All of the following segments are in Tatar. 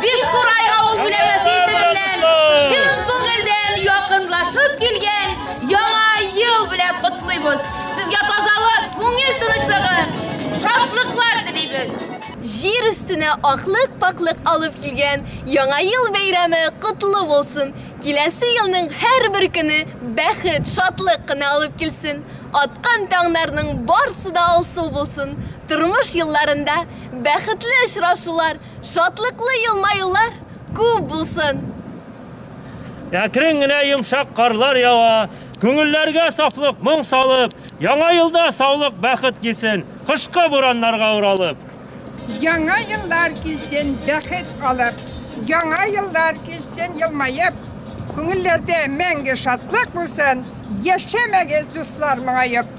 Бишкурай авыл биләмәсе исеменнән чын күңелдән якынлашып килгән яңа ел белән котлыйбыз. Сезгә тазалык, күңел тынычлыгы, шатлыклар телибез. Җир өстенә аклык-пакълык алып килгән Яңа ел бәйрәме котлы булсын! Киләсе елның һәрбер көне бәхет, шатлык кына алып килсен! Аткан таңнарның барсы да алсу булсын! Тормыш елларында бәхетле очрашулар, Шатлыклы елмаюлар күп булсын! Әкрен генә йомшак карлар ява, күңелләргә сафлык, моң салып, Яңа елда саулык, бәхет килсен, кышкы бураннарга уралып. Яңа еллар килсен, бәхет алып, Яңа еллар килсен, елмаеп, Күңелләрдә мәңге шатлык булсын, Яшәмәгез, дуслар, моңаеп.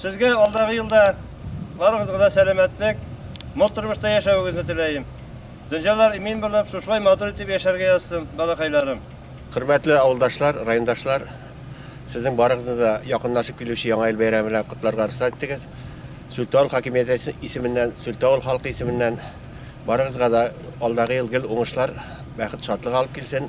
Сезгә алдагы елда барыгызга да сәламәтлек, мул тормышта яшәвегезне теләем. Дөнҗалар имин булып, шушылай матур итеп яшәргә язсын, балакайларым. Хөрмәтле авылдашлар, райондашлар, сезнең барыгызны да якынлашып килүче Яңа ел бәйрәме белән котларга рөхсәт итегез. Сүлтә авыл хакимияте исеменнән, Сүлтә авыл халкы исеменнән барыгызга да алдагы ел гел уңышлар, бәхет, шатлык алып килсен.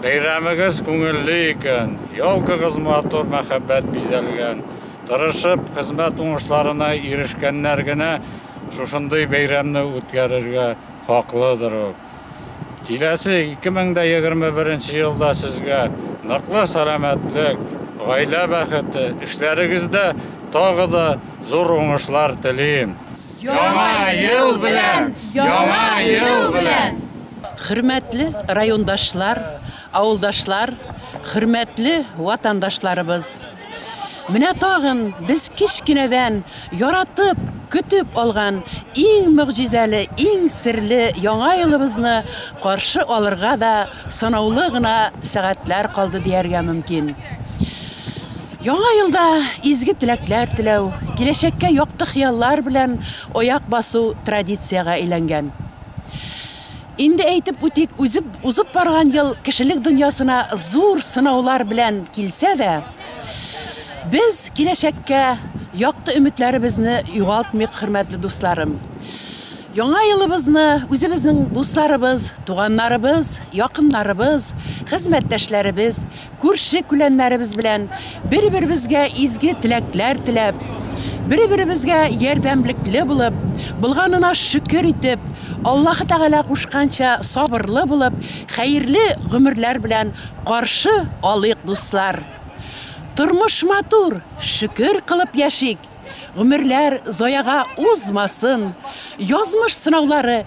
Бәйрәмегез күңелле икән, елкагыз матур мәхәббәт бизәлгән, тырышып, хезмәт уңышларына ирешкәннәр генә шушындый бәйрәмне үткәрергә хаклыдыр ук. Киләсе 2021 елда сезгә ныклы сәламәтлек, гаилә бәхете, эшләрегездә тагы да зур уңышлар телим. Яңа ел белән! Яңа ел белән! Хөрмәтле райондашлар, авылдашлар, хөрмәтле ватандашларыбыз! Менә тагын без кечкенәдән яратып, көтеп алган иң могҗизәле, иң серле Яңа елыбызны каршы алырга да санаулы гына сәгатьләр калды дияргә мөмкин. Яңа елда изге теләкләр теләү, киләчәккә якты хыяллар белән аяк басу традициягә әйләнгән. Инде әйтеп үтик, үзеп, узып барган ел кешелек дөньясына зур сынаулар белән килсә дә, без киләчәккә якты өметләребезне югалтмыйк, хөрмәтле дусларым. Яңа елыбызны үзебезнең дусларыбыз, туганнарыбыз, якыннарыбыз, хезмәттәшләребез, Күрше-күләннәребез белән бер-беребезгә изге теләкләр теләп, бер-беребезгә ярдәмлекле булып, булганына шөкер итеп, Аллаһы Тәгалә кушканча сабырлы булып, хәерле гомерләр белән каршы алыйк, дуслар! Тормыш матур, шөкер кылып яшик, гомерләр заяга узмасын, язмыш сынаулары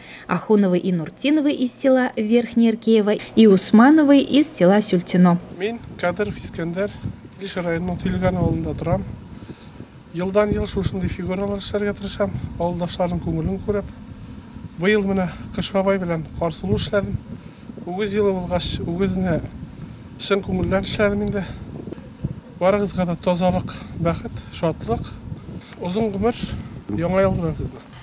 Ахуновы и Нуртиновы из села Верхнее Ркеево и Усмановы из села Сюльтино. Мин Кадыров Искәндәр, Илеш районының Тилган авылында торам. Елдан-ел шушындый фигуралар эшләргә тырышам, авылдашларның күңелен күреп. Быел менә Кыш бабай белән Карсылу эшләдем. Үгез елы булгач, үгезне чын күңелдән эшләдем инде. Барыгызга да тазалык, бәхет, шатлык, озын гомер, Яңа ел белән сезне!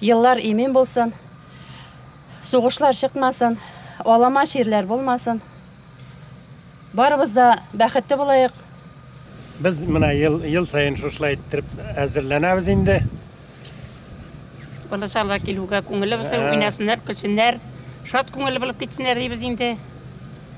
Еллар имин булсын, сугышлар чыкмасын, алама чирләр булмасын. Барыбыз да бәхетле булаек. Без менә ел, ел саен шушылай иттереп әзерләнәбез инде. Балачалар килүгә күңелле булсын, уйнасыннар, көлсеннәр, шат күңелле булып китсеннәр дибез инде.